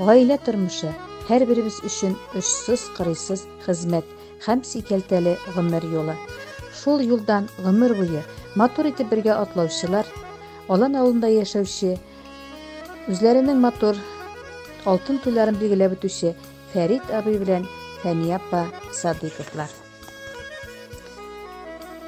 Гаилә тормышы, һәрберебез өчен очсыз-кырыйсыз хезмәт һәм сикәлтәле гомер юлы. Шул юлдан гомер буе матур итеп бергә атлаучылар, Алан авылында яшәүче, үзләренең матур алтын туйларын билгеләп үтүче Фәрит абый белән Фәния апа Садыйковлар.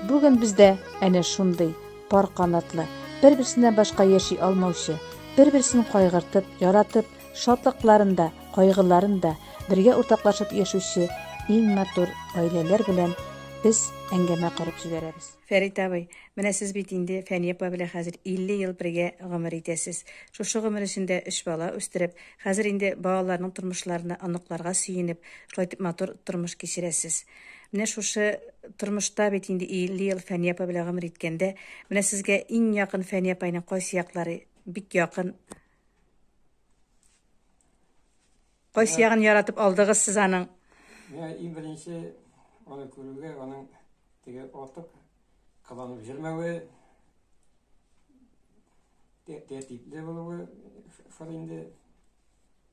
Бүген бездә әнә шундый Пар канатлы, бер-берсеннән башка яши алмаучы, бер-берсен кайгыртып, яратып, шатлыкларын да, кайгыларын да бергә уртаклашып яшүче иң матур гаиләләр белән без әңгәмә корып җибәрәбез. Фәрит абый, менә сез бит инде Фәния апа белән хәзер 50 ел бергә гомер итәсез. Шушы гомер эчендә өч бала үстереп, хәзер инде балаларның тормышларына, оныкларга сөенеп, шулай итеп матур тормыш кичерәсез. Менә шушы тормышта бит инде 50 ел Фәния апа белән гомер иткәндә, менә сезгә иң якын Фәния апайның кайсы яклары бик якын? Кайсы ягын яратып алдыгыз сез аның? Менә иң беренче аны күрүгә, аның теге артык кыланып җөрмәве, тәртипле булуы шул инде.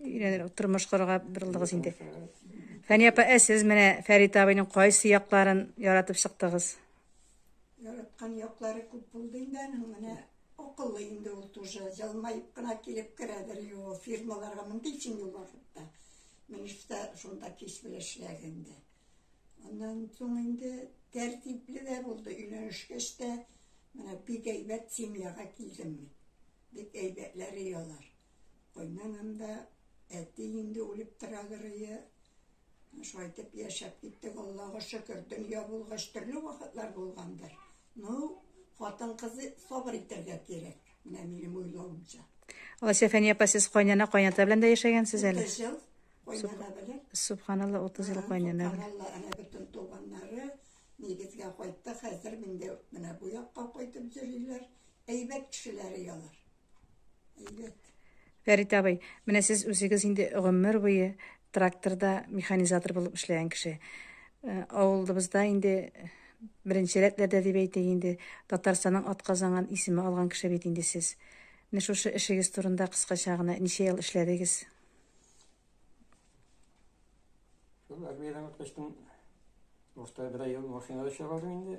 Өйрәнер, тормыш корырга борылдыгыз инде. Фәния апа, ә сез менә Фәрит абыйның кайсы якларын яратып чыктыгыз? Яраткан яклары күп булды инде аның менә акыллы инде ул тоже җылмаеп кына килеп керәдер юл фирмаларга мондый өчен юл вакытта минешта шунда кич белән эшләгәндә аннан соң инде тәртипле дә булды өйләнешкәч тә менә бик әйбәт семьяга килдем мин Бик әйбәтләр и алар. Кайнанам да, әти инде үлеп тора гырые. Шулай итеп яшәп киттек, Аллага шөкер. Дөнья булгач, төрле вакытлар булгандыр. Ну, хатын-кызы сабыр итәргә кирәк. Менә минем уйлавымча. Алсәфәния апа, сез кайнана, кайната белән дә яшәгәнсез әле? 30 ел кайнана белән. Субханалла, 30 ел кайнана белән. Субханалла, әнә бөтен туганнары нигезгә кайтты. Хәзер миндә менә бу якка кайтып йөриләр. Әйбәт кешеләре ялар. Әйбәт. Фәрит абый, менә сез үзегез инде гомер буе тракторда механизатор булып эшләгән кеше. Э, Авылыбызда инде беренче рәтләрдә дип әйтик инде Татарстанның атказанган исеме алган кеше бит инде сез. Менә шушы эшегез турында кыскача гына ничә ел эшләдегез? Шул армиядән качтым. Башта бер ел машинада эшләп алдым инде.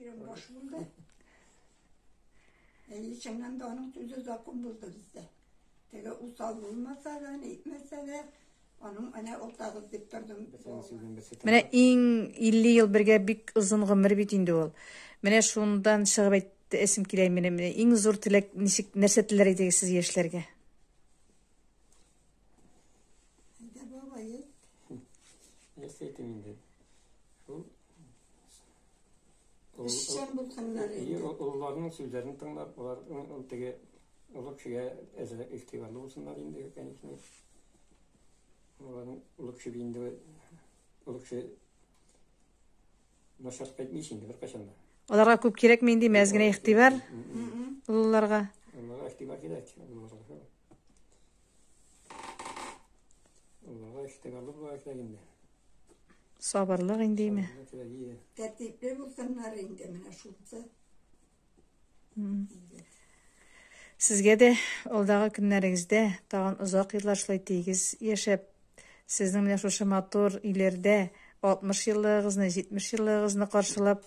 Ирем баш булды. 50 чыңнан да аның сүзе закон булды бездә. Теге усал булмаса да, әйтмәсә дә, аның әнә утагыз дип тордым. Менә иң 50 ел бергә бик озын гомер бит инде ул. Менә шундан чыгып әйтте эсим килә менә менә иң зур теләк ничек нәрсә теләр идегез сез яшьләргә? Әйдә, баба, ет. Нәрсә әйтем инде? Шул Эшчән булсыннар инде. Олыларның сүзләрен тыңлап, алар теге олы кешегә әзрәк игътибарлы булсыннар инде, конечно. Аларның олы кеше инде олы кеше начар кайтмый инде беркайчан да. Аларга күп кирәкме инде мәз генә игътибар? Олыларга. Олыларга игътибар кирәк. Олыга эштек алып бар эшлек инде. Сабырлык индеме? Тәртипле булсыннар инде менә шунсы. Сезгә дә алдагы көннәрегездә тагын озак еллар шулай тигез яшәп, сезнең менә шушы матур иләрдә 60 еллыгыгызны, 70 еллыгыгызны каршылап